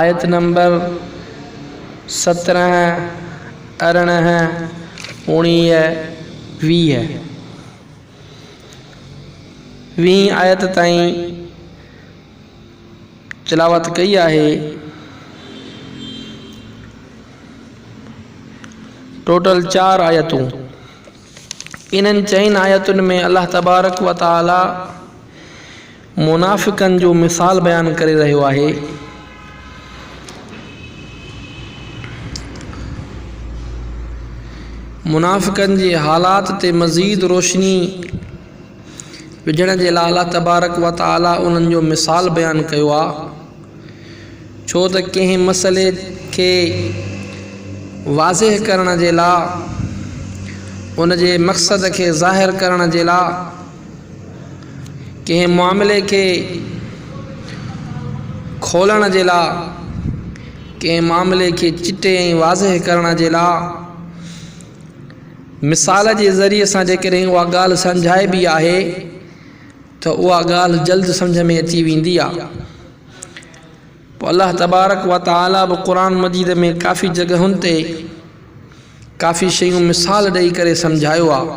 آيت نمبر سترهن، ارڙهن، اوڻيهه، ويهه، ويهين آيت تائين تلاوت ڪئي آهي. ٽوٽل چار آيتون. انهن چئن آيتن ۾ الله تبارڪ وتعاليٰ منافقن جو مثال بيان ڪري رهيو آهي منافقن جي حالات تي مزيد روشني وجهڻ جي لاء الله تبارڪ و تعالي انهن جو مثال بيان ڪيو آهي ڇو ته ڪنهن مسئلي کي واضح ڪرڻ جي لاء ان جي مقصد کي ظاهر ڪرڻ جي لاء ڪنهن معاملي کي کولڻ جي لاء ڪنهن معاملي کي چٽي ۽ واضح ڪرڻ جي لاء مثال جي ذريعي سان جيڪڏهن اها ڳالهه سمجهائبي آهي ته اها ڳالهه جلد سمجهه ۾ اچي ويندي آهي پوء الله تبارڪ و تعالٰي به قرآ مجيد ۾ ڪافي جڳهن تي ڪافي شيون مثال ڏئي ڪري سمجهايو آهي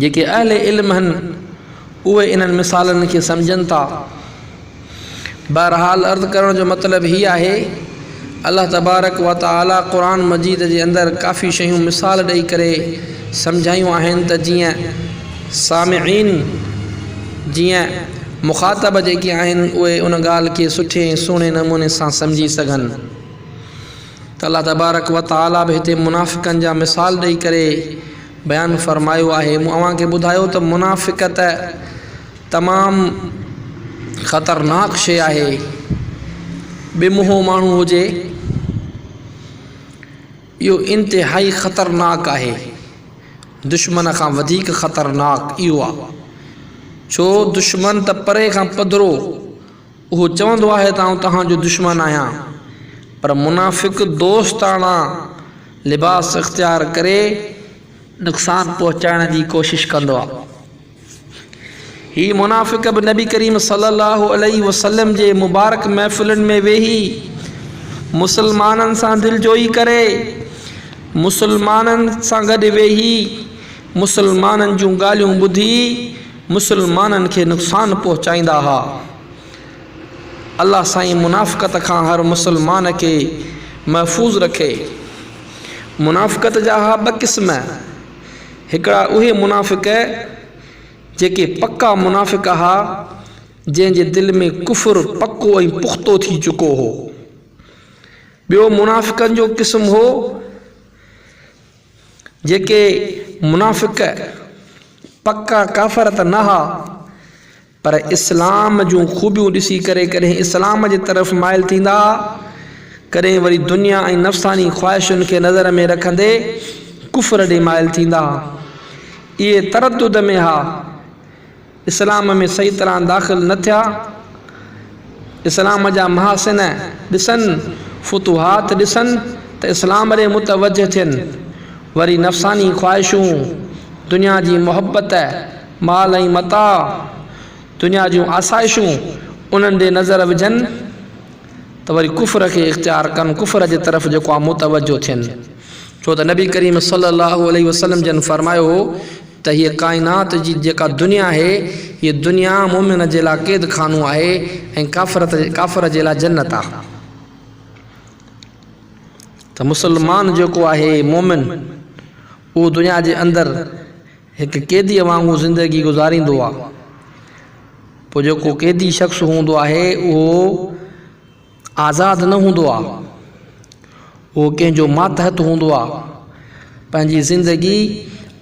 جيڪي اهل علم هن اهي انهن مثالن کي سمجهن ٿا. بهرحال عرض ڪرڻ جو مطلب هي آهي الله تبارڪ وتعالي قرآن مجيد جي اندر ڪافي شيون مثال ڏئي ڪري سمجهايون آهن ته جيئن سامعين جيئن مخاطب جيڪي آهن اهي ان ڳالهه کي سٺي ۽ سهڻي نموني سان سمجهي سگهن. ته الله تبارڪ و تعاليٰ به هتي منافقن جا مثال ڏئي ڪري بيان فرمايو آهي مون اوهان کي ٻڌايو ته منافقت تمام خطرناڪ شيء آهي به منهون ماڻهو هجي اهو انتهائي خطرناڪ آهي دشمن کان وڌيڪ خطرناڪ اهو آهي ڇو دشمن ته پري کان پڌرو اهو چوندو آهي ته آئون توهان جو دشمن آهيان، پر منافق دوستاڻا لباس اختيار ڪري نقصان پهچائڻ جي ڪوشش ڪندو آهي. هي منافق به نبي ڪريم صلي الله عليه وسلم جي مبارڪ محفلن ۾ ويهي مسلمانن سان دلجوئي ڪري، مسلمانن سان گڏ ويهي، مسلمانن جون ڳالهيون ٻڌي مسلمانن کي نقصان پهچائيندا ها. الله سائين منافقت کان هر مسلمان کي محفوظ رکي. منافقت جا ها ٻه قسم، هڪڙا اهي منافق جيڪي پڪا منافق ها جنهن جي دل ۾ ڪفر پڪو ۽ پختو ٿي چڪو هو. ٻيو منافقن جو قسم هو. جيڪي منافق پڪا ڪافر ته نه ھئا پر اسلام جون خوبيون ڏسي ڪري ڪڏھن اسلام جي طرف مائل ٿيندا ھئا ڪڏھن وري دنيا ۽ نفساني خواھشن کي نظر ۾ رکندي ڪفر ڏي مائل ٿيندا ھئا اھي تردد ۾ ھئا اسلام ۾ صحيح طرح داخل نه ٿيا، اسلام جا محاسن ڏسن، فتوحات ڏسن ته اسلام ڏي متوجه ٿين، وري نفساني خواهشون، دنيا جي محبت، مال ۽ متاع، دنيا جون آسائشون انهن ڏي نظر وجهن ته وري ڪفر کي اختيار ڪن، ڪفر جي طرف جيڪو آهي متوجه ٿين، ڇو ته نبي ڪريم صلي الله عليه وسلم جن فرمايو هو. ته هيء ڪائنات جي جيڪا دنيا آهي، هيء دنيا مؤمن جي لاء قيد خانو آهي ۽ ڪافر جي لاء جنت آهي. ته مسلمان جيڪو آهي، مؤمن، اهو دنيا جي اندر هڪ قيديء وانگر زندگي گذاريندو آهي. پوء جيڪو قيدي شخص هوندو آهي، اهو. آزاد نه هوندو آهي هو ڪنهن جو ماتحت هوندو آهي پنهنجي زندگي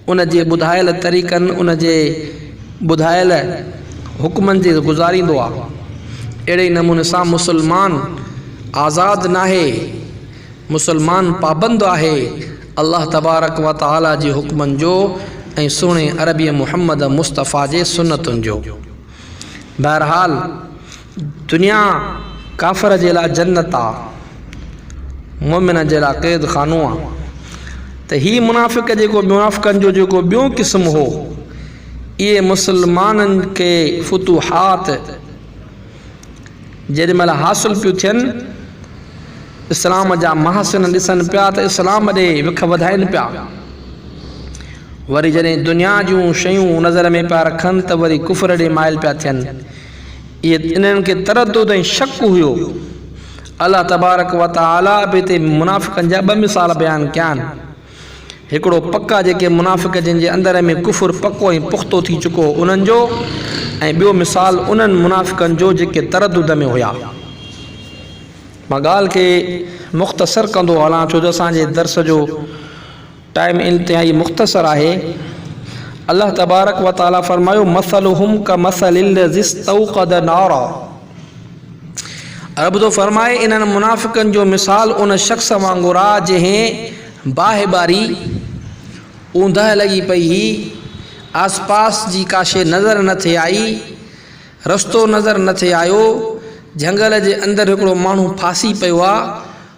ان جي ٻڌايل طريقن ان جي ٻڌايل حڪمن جي گذاريندو آهي اهڙي ئي نموني سان مسلمان آزاد ناهي مسلمان پابند آهي الله تبارڪ و تعالي جي حڪمن جو ۽ سهڻي عربي محمد مصطفيٰ جي سنتن جو بهرحال دنيا ڪافر جي لاء جنت آ، مؤمن جي لاء قيد خانو آ ته هي منافق جيڪو منافقن جو جيڪو ٻيون قسم هو اهي مسلمانن کي فتوحات جيڏي مهل حاصل پيون ٿين اسلام جا محاسن ڏسن پيا ته اسلام ڏي وک وڌائين پيا وري جڏهن دنيا جون شيون نظر ۾ پيا رکن ته وري ڪفر ڏي مائل پيا ٿين انهن کي تردد ۽ شڪ هيو. الله تبارڪ و تعاليٰ به هتي منافقن جا ٻه مثال بيان ڪيا آهن. هڪڙو پڪا جيڪي منافق جن جي اندر ۾ ڪفر پڪو ۽ پختو ٿي چڪو هو انهن جو ۽ ٻيو مثال انهن منافقن جو جيڪي تردد ۾ هيا. مان ڳالهه کي مختصر ڪندو هلان ڇو جو اسان جي درس جو ٽائيم انتهائي مختصر آهي. الله تبارڪ و تعالي فرمايو، مثلهم کمثل الذي استوقد نارا. رب ٿو فرمائي، انهن منافقن جو مثال ان شخص وانگر آ جنهن باهه ٻاري، اوندهه لڳي پئي هئي، آس پاس جي ڪا شيء نظر نه ٿي آئي، رستو نظر نه ٿي آيو، جهنگل جي اندر هڪڙو ماڻهو ڦاسي پيو آ،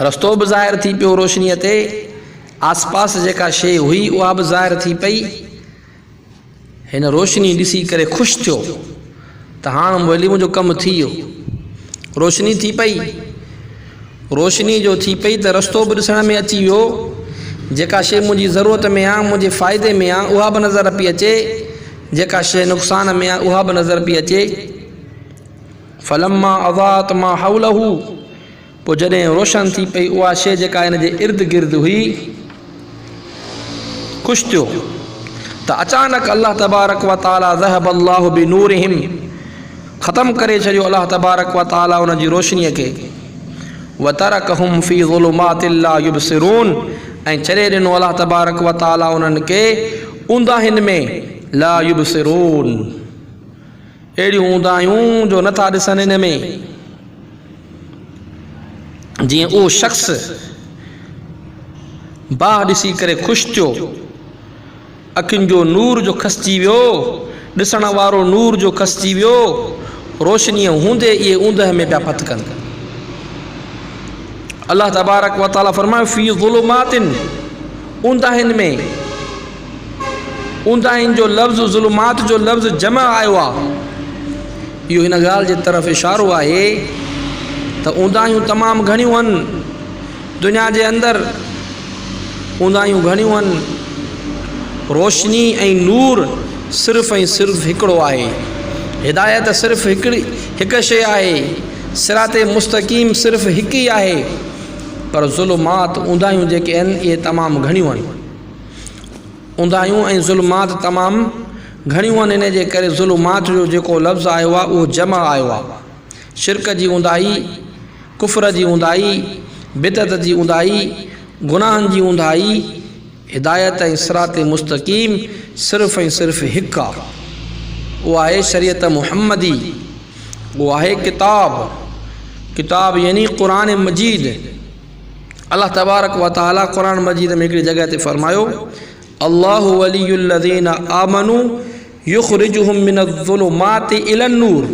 رستو به ظاهر ٿي پيو روشنيء تي آسپاس جيڪا شيء هئي اها به ظاهر ٿي پئي. هن روشني ڏسي ڪري خوش ٿيو ته هاڻ مولي منهنجو ڪم ٿي ويو. روشني ٿي پئي. روشني جو ٿي پئي ته رستو به ڏسڻ ۾ اچي ويو. جيڪا شيء منهنجي ضرورت ۾ آ، منهنجي فائدي ۾ آ اها به نظر پئي اچي. جيڪا شيء نقصان ۾ آ اها به نظر پئي اچي. فلما اضاءت ما حوله. پوء جڏهن روشن ٿي پئي اها شيء جيڪا هن جي ارد گرد هئي، خوش ٿيو ته اچانڪ الله تبارڪ و تعاليٰ ذهب الله بنورهم ختم ڪري ڇڏيو الله تبارڪ و تعاليٰ ان جي روشنيء کي وترڪهم في ظلمات لا يبصرون ۽ ڇڏي ڏنو الله تبارڪ و تعاليٰ انهن کي اونداهين ۾ لا يبصرون اهڙيون اونداهيون جو نه ٿا ڏسن ان ۾ جيئن اهو شخص باهه ڏسي ڪري خوش ٿيو اکين جو نور جو کسجي ويو ڏسڻ وارو نور جو کسجي ويو روشني هوندي اهي اوندهه ۾ پيا پٿ ڪن الله تبارڪ وتعالي فرمايو في ظلمات اونداهين ۾ اونداهين جو لفظ ظلمات جو لفظ جمع آيو آهي اهو هن ڳالهه جي طرف اشارو آهي ته اونداهيون تمام گهڻيون هن دنيا جي اندر اونداهيون گهڻيون هن روشني ۽ نور صرف ۽ صرف هڪڙو آهي هدايت صرف هڪڙي هڪ شيء آهي سرات مستقيم صرف هڪ ئي آهي پر ظلمات اونداهيون جيڪي هن اهي تمام گهڻيون هن اونداهيون ۽ ظلمات تمام گهڻيون آهن ان جي ڪري ظلمات جو جيڪو لفظ آيو آهي اهو جمع آيو آهي شرڪ جي اونداهي ڪفر جي اونداهي بدعت جي اونداهي گناهن جي اونداهي هدايت ۽ صراط مستقيم صرف ۽ صرف هڪ آهي اهو آهي شريعت محمدي اهو آهي ڪتاب ڪتاب يعني قرآن مجيد الله تبارڪ و تعالي قرآن مجيد ۾ هڪڙي جڳهه تي فرمايو، الله ولي الذين آمنو يخرجهم من الظلمات الي النور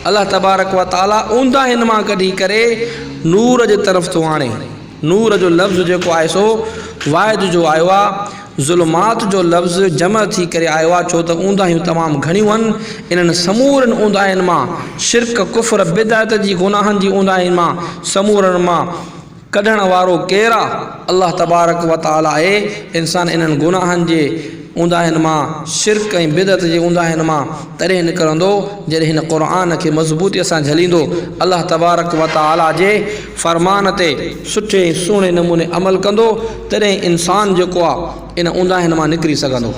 الله تبارڪ و تعالي اونداهين مان ڪڍي ڪري نور جي طرف ٿو آڻي. نور جو لفظ جيڪو آهي سو واحد جو آيو آهي. ظلمات جو لفظ جمع ٿي ڪري آيو آهي ڇو ته اونداهيون تمام گهڻيون آهن. انهن سمورين اونداهين مان شرڪ، ڪفر، بدعت جي گناهن جي اونداهين مان سمورن مان ڪڍڻ وارو ڪير آهي؟ الله تبارڪ و تعاليٰ آهي. انسان انهن گناهن جي اونداهين مان شرڪ ۽ بدعت جي اونداهين مان تڏهن نڪرندو جڏهن هن قرآن کي مضبوطيء سان جهليندو. الله تبارڪ و تعاليٰ جي. فرمان تي سٺي ۽ سهڻي نموني عمل ڪندو تڏهن انسان جيڪو آ ان اونداهين مان نڪري سگهندو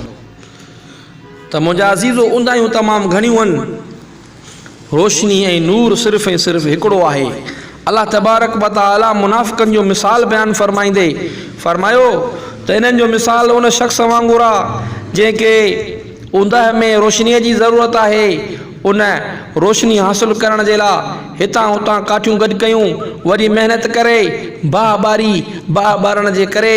ته منهنجا عزيزو اونداهيون تمام گهڻيون هن روشني ۽ نور صرف ۽ صرف هڪڙو آهي الله تبارڪ و تعالي منافقن جو مثال بيان فرمائيندي فرمايو ته انهن جو مثال ان شخص وانگر آ جنهن کي اونداهين ۾ روشني جي ضرورت آهي ان روشني حاصل ڪرڻ جي لاء هتان هتان ڪاٺيون گڏ ڪيون، وري محنت ڪري باهه ٻاري، باهه ٻارڻ جي ڪري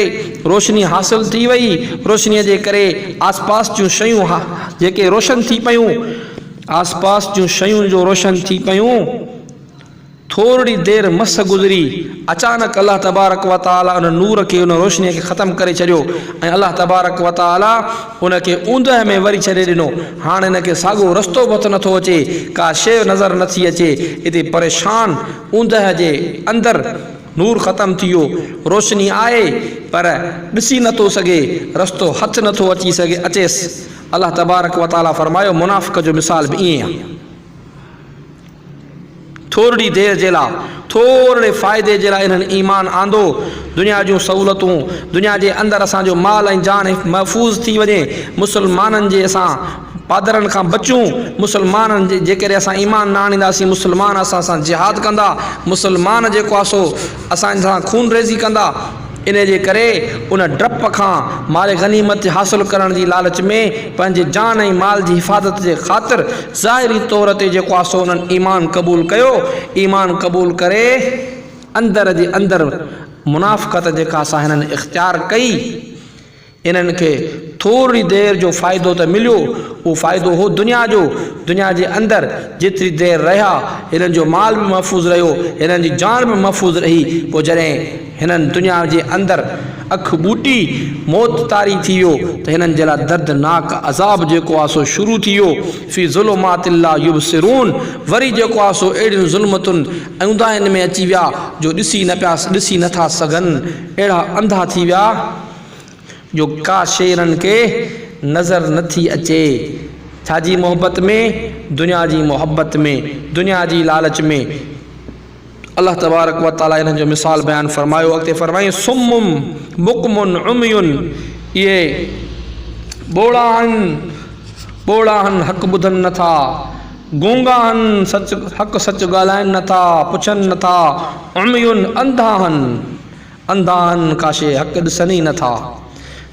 روشني حاصل ٿي وئي، روشنيء جي ڪري آسپاس جون شيون جيڪي روشن ٿي پيون، آسپاس جون شيون جو روشن ٿي پيون. ٿورڙي دير مس گذري، اچانڪ الله تبارڪ و تعاليٰ ان نور کي، ان روشنيء کي ختم ڪري ڇڏيو ۽ الله تبارڪ و تعاليٰ ان کي اوندهه ۾ وري ڇڏي ڏنو. هاڻ هن کي ساڳو رستو به هٿ نٿو اچي، ڪا شيء نظر نٿي اچي. اتي پريشان اوندهه جي اندر نور ختم ٿي ويو، روشني آهي پر ڏسي نٿو سگهي، رستو هٿ نٿو اچي سگهي اچيس. الله تبارڪ و تعاليٰ فرمايو، منافق جو مثال به ائين ئي آهي. ٿورڙي دير جي لاء، ٿورڙي فائدي جي لاء انهن ايمان آندو، دنيا جون سهولتون، دنيا جي اندر اسان جو مال ۽ جان محفوظ ٿي وڃي، مسلمانن جي اسان پادرن کان بچون، مسلمانن جي جيڪڏهن اسان ايمان نه آڻينداسين، مسلمان اسان سان جهاد ڪندا، مسلمان جيڪو آ سو اسان سان خونريزي ڪندا. انهيء جي ڪري ان ڊپ کان مال غنيمت حاصل ڪرڻ جي لالچ ۾ پنهنجي جان ۽ مال جي حفاظت جي خاطر ظاهري طور تي جيڪو آسو انهن ايمان قبول ڪيو، ايمان قبول ڪري اندر جي اندر منافقت جيڪا سا هنن اختيار ڪئي، انهن کي ٿورڙي دير جو فائدو ته مليو، اهو فائدو هو دنيا جو، دنيا جي اندر جيتري دير رهيا، هنن جو مال به محفوظ رهيو، هنن جي جان به محفوظ رهي، پوء جڏهن هنن دنيا جي اندر اک ٻوٽي موت طاري ٿي ويو ته هنن جي لاء دردناڪ عذاب جيڪو آهي سو شروع ٿي ويو، في ظلمات لا يبصرون، وري جيڪو آهي سو اهڙين ظلمتن ۽ اونداهين ۾ اچي ويا جو ڏسي نه پيا ڏسي نه ٿا سگهن، اهڙا انڌا ٿي ويا. جو ڪا شيرن کي نظر نه ٿي اچي ڇا جي محبت ۾ دنيا جي محبت ۾ دنيا جي لالچ ۾ الله تبارڪ وتعالي انهن جو مثال بيان فرمايو اڳتي فرمائين سم بڪم عمي اهي ٻوڙا آهن ٻوڙا آهن حق ٻڌن نه ٿا گونگا آهن سچ حق سچ ڳالهائن نه ٿا پڇن نه ٿا عمي انڌا آهن انڌاهن ڪا شيء حق ڏسن ئي نه ٿا.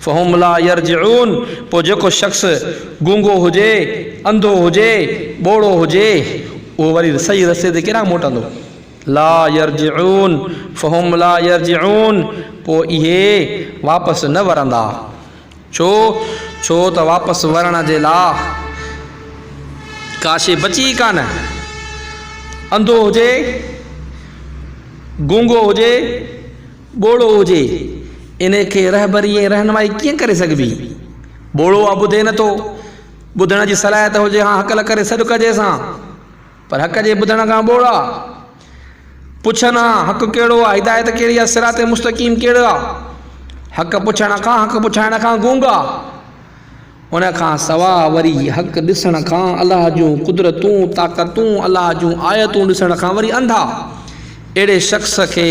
فهم لا يرجعون پوء جيڪو شخص گونگو هجي، انڌو هجي، ٻوڙو هجي، اهو وري صحيح رستي تي ڪيڏانهن موٽندو؟ لا يرجعون فهم لا يرجعون پوء اهي واپس نه ورندا. ڇو؟ ڇو ته واپس ورڻ جي لاء ڪا شيء بچي ئي ڪانه. انڌو هجي، گونگو هجي، ٻوڙو هجي، انهيء کي رهبري ۽ رهنمائي ڪيئن ڪري سگهبي؟ ٻوڙو آ ٻڌي نه ٿو، ٻڌڻ جي صلاحيت هجي هان هڪل ڪري سڏ ڪجيس هان، پر هڪجي ٻڌڻ کان ٻوڙا. پڇن ها، حق ڪهڙو آ؟ هدايت ڪهڙي آ؟ صراط مستقيم ڪهڙو آ؟ حق پڇڻ کان، حق پڇائڻ کان گونگا. ان کان سواء وري حق ڏسڻ کان، الله جون قدرتون، طاقتون، الله جون آيتون ڏسڻ کان وري انڌا. اهڙي شخص کي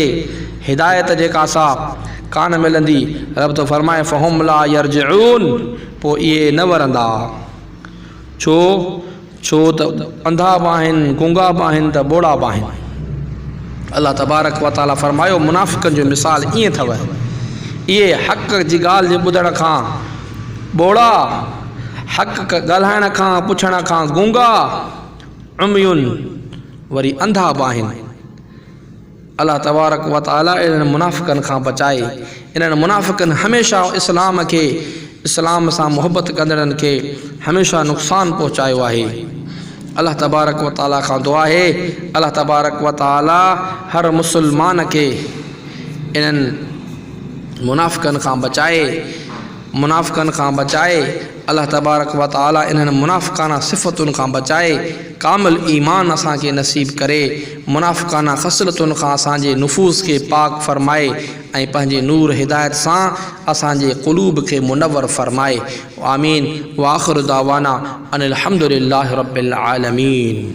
هدايت جيڪا سا ڪانه ملندي. رب ٿو فرمائي فهم لا يرجعون پوء اهي نه ورندا. ڇو؟ ڇو ته انڌا به آهن، گونگا به آهن ته ٻوڙا به آهن. الله تبارڪ و تعاليٰ فرمايو، منافقن جو مثال ائين اٿو، اهي حق جي ڳالهه جي ٻڌڻ کان ٻوڙا، حق ڳالهائڻ کان، پڇڻ کان گونگا، عمي وري انڌا به آهن. الله تبارڪ و تعالي انهن منافقن کان بچائي. انهن منافقن هميشه اسلام کي، اسلام سان محبت ڪندڙن کي هميشه نقصان پهچايو آهي. الله تبارڪ و تعالي کان دعا آهي الله تبارڪ و تعالي هر مسلمان کي انهن منافقن کان بچائي، منافقن کان بچائي، الله تبارڪ و تعالي انهن منافقانه صفتن کان بچائي. ڪامل ايمان اسان کي نصيب ڪري، منافقانه خصلتن کان اسان جي نفوس کي پاڪ فرمائي ۽ پنهنجي نور هدايت سان اسان جي قلوب کي منور فرمائي. آمين واخر دعوانا ان الحمدلله رب العالمين.